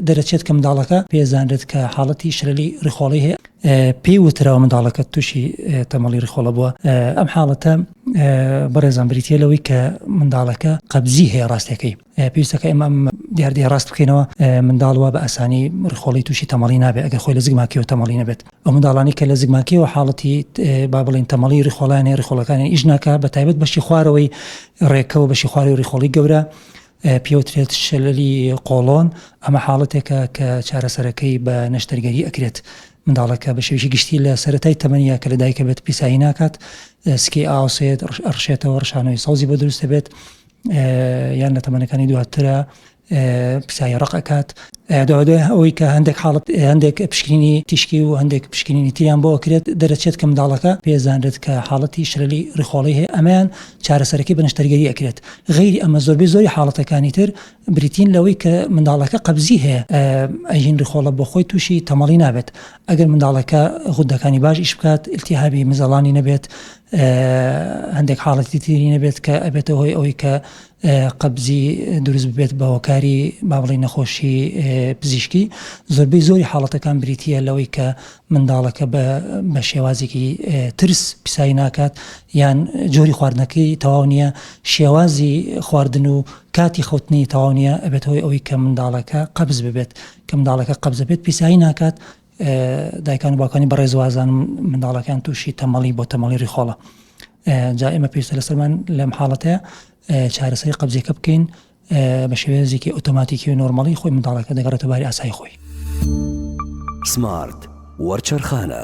دەرەچێت کە منداڵەکە پێزانرێت کە حاڵەتی شرەلی ڕیخۆڵی هەیە پێی وتراوە منداڵەکە تووشی تەمەڵی ڕیخۆڵە بووە ئەم حاڵەتە بەڕێزان بریتە لەوەی کە منداڵەکە قەبزی هەیە ڕاستەکەی پێویستەکە ئێمە دیاردەی ڕاست بکەینەوە منداڵوە بە ئاسانی ڕخۆڵی تووشی تەمەڵی نابێت ئەگەر خۆی لە زگماکیەوە تەمەڵی نەبێت ئەو منداڵانی کە لە زگماکیەوە حاڵەتی با بڵین تەمەڵی ڕخۆڵانی ڕخۆڵەکانی ئیش ناکە بە تایبەت بەشی خوارەوەی ڕێکەوە بەشی خواری ڕخۆڵی گەورە پێوترێت شللی قۆڵۆن، ئەمە حاڵەتێکە کە چارەسەرەکەی بە نەشتەرگەری ئەکرێت. منداڵەکە بە شێوەیەکی گشتی لە سەرەتای تەمەنی یا کە لە دایکە بێت پیسایی ناکات، سکی ئاوسێت، ئەڕشێتەوە، ڕشانەوەی سەوزی بۆ دروست دەبێت یان لە تەمەنەکانی دواترا پیسایی ڕەق ئەکات. دوای ئەوەی کە هەندێک حاڵەت هەندێک پشکنینی تیشکی و هەندێک پشکنینی تریان بۆ ئەکرێت، دەرەچێت کە منداڵەکە پێزانرێت کە حاڵەتی شللی ڕیخۆڵی هەیە، ئەمەیان چارەسەرەکەی بە نەشتەرگەری ئەکرێت غەیری ئەمە زۆربەی زۆری حاڵەتەکانی تر بریتین لەوەی کە منداڵەکە قەبزی هەیە ئەژین ڕخۆڵە بۆ خۆی تووشی تەمەڵی نابێت ئەگەر منداڵەکە غودەکانی باش ئیش بکات التیهابی مزەڵانی نەبێت هەندێک حاڵەتی تری نەبێت کە ئەبێتە هۆی ئەوی کە قەبزی دروست بێت بە هۆکاری بابڵی نەخۆشی پزیشکی زۆربەی زۆری حاڵەتەکان بریتە لەوەی کە منداڵەکە بە شێوازێکی ترس پیسایی ناکات یان جۆری خواردنەکەی تەواو نییە شێوازی خواردن و کاتی خەوتنی تەواو نییە ئەبێت هۆی ئەوەی کە منداڵەکە قەبز ببێت کە منداڵەکە قەبزە بێت پیسایی ناکات دایکان و باکانی بەڕێزوازان منداڵەکان تووشی تەمەڵی بۆ تەمەڵی ریخۆڵە جا ئێمە پێویستە لەسەرمان لەم حاڵەتەیە چارەسەری قەبزیەکە بکەین بە شێوێنزیکی ئۆتۆماتیکی و نۆرمەڵی خۆی منداڵەکە دەگەڕێتە باری ئاسای خۆی. سمارت وەرچەرخانە.